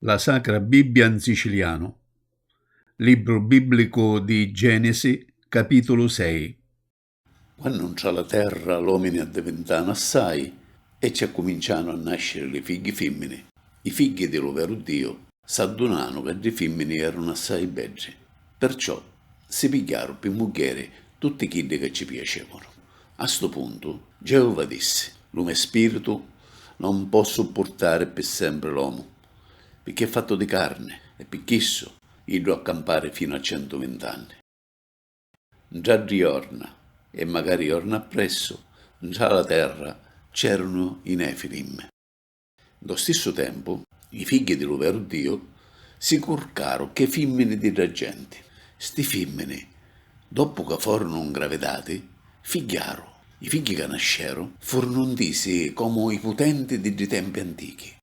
La Sacra Bibbia in sicilianu Libru bibblicu di Genesi, capitulu sei Quannu ntra la terra l'omini addivintanu assai e ci accumincianu a nasciri li figghi fimmini. I figghi di lu veru Diu. S'addunanu ca ddi fimmini erunu assai beddi, perciò si pigghiaru pi muggheri tutti chiddi ca ci piacevunu. A stu puntu, Geova dissi, Lu me spiritu non pò suppurtari pi sempri l'omu, pirchì è fattu di carni, e pi chissu iddu ha campari finu a centuvintanni. Ntra ddi jorna, e macari jorna appressu, ntra la terra c'erunu i Nefilim. Ntô stissu tempu, li figghi di lu veru Diu si curcaru chê fimmini di dda genti. Sti fimmini, doppu ca forunu ngravidati, figghiaru. I figghi ca nasceru furunu ntisi comu i putenti di ddi tempi antichi.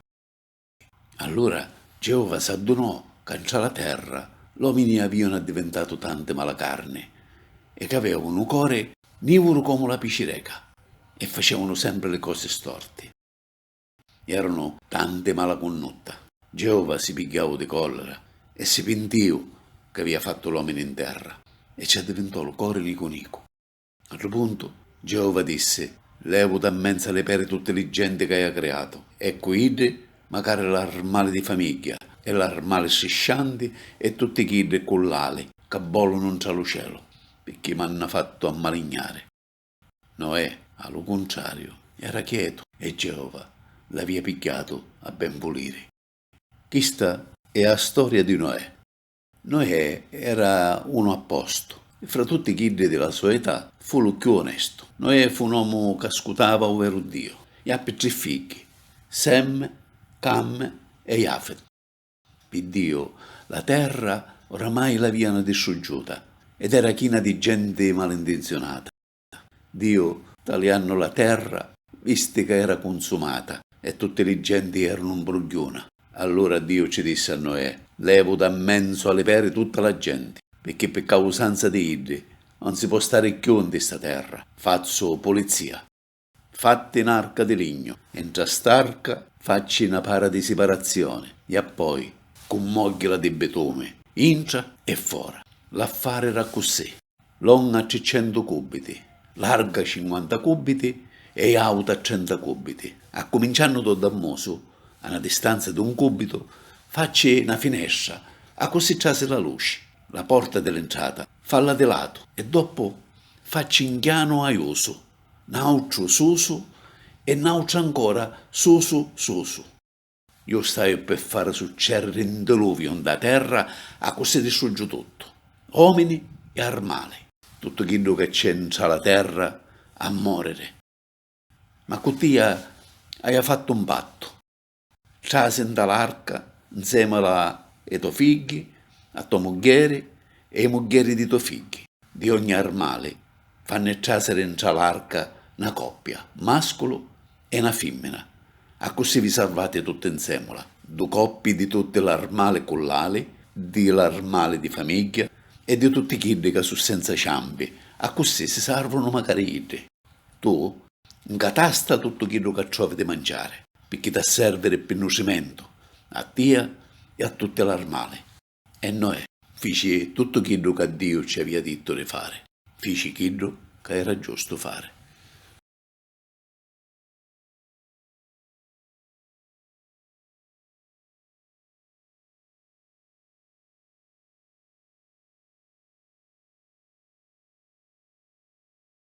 Allura Geova s'addunò ca ntra la terra l'omini avìanu addivintatu tanti malacarni e c'avèu nu cori nìvuru comu la picireca e facèunu sempri li cosi storti. Erunu tanti mala cunnutta. Geova si pigghiau di collera e si pintiu c'avia fattu l'omini in terra, e ci addivintò lu cori nicu nicu. A ddu puntu, Geova dissi, Levu da mmenza li peri tutti li genti c'aia criatu, e cu iddi, macari l'armali di famigghia, e l'armali striscianti, e tutti chiddi cu l'ali ca bolunu ntra lu celu, picchì m'hannu fattu ammalignari. Noè, a lu cuntrariu, era chietu e Geova l'avia pigghiatu a ben vuliri. Chista è a storia di Noè. Noè era unu a postu e fra tutti chiddi di la so età fu lu cchiù onestu. Noè fu un omu ca scutava u veru Diu. Jappi tri figghi, Sem, Cam e Jafet. Pi Diu, la terra oramai l'avìanu distruggiuta ed era china di genti malintinziunata. Diu, taliannu la terra, visti ca era cunsumata e tutti li genti eranu 'mbrugghiuna. Allura Diu ci dissi a Noè, Levu da 'mmenzu a li peri tutta la genti, picchì pi causanza di iddi 'un si po' stari cchiù nti sta terra. Fazzu pulizia. Fatti n'arca di lignu e ntra st'arca facci na para di siparazzioni e appoi cummogghila di bitumi intra e fora. L'affari era accussì, longa triccentu cubiti, larga cinquanta cubiti e auta trenta cubiti. Accuminciannu dô dammusu, a na distanza d'un cubitu, facci na finestra, accussì trasi la luci, la porta di l'intrata, falla di latu e doppu facci 'n chianu aiusu, N'autru susu e n'autru ancora susu susu. Ju staiu pi fari succediri n diluviu nta terra accussì distruggiu tuttu, omini e armali. Tuttu chiddu ca c'è ntra la terra a moriri. Ma cu tia aia fattu un pattu. Trasi nta l'arca, nzemula e to figghi, a to muggheri e i muggheri di to figghi. Di ogni armali, fanni trasiri ntra l'arca na coppia, masculu e na fimmina, accussì vi sarvati tutti nzemula. Du coppi di tutti l'armali cullali, di l'armali di famigghia e di tutti chiddi ca su senza ciampi, accussì si sarvunu macari iddi. Tu 'ncatasta tuttu chiddu ca trovi di manciari, picchì t'ha serviri pi nutrimentu a tia e a tutti l'armali. E Noè fici tuttu chiddu ca Diu cci avia dittu di fari, fici chiddu ca era giustu fari.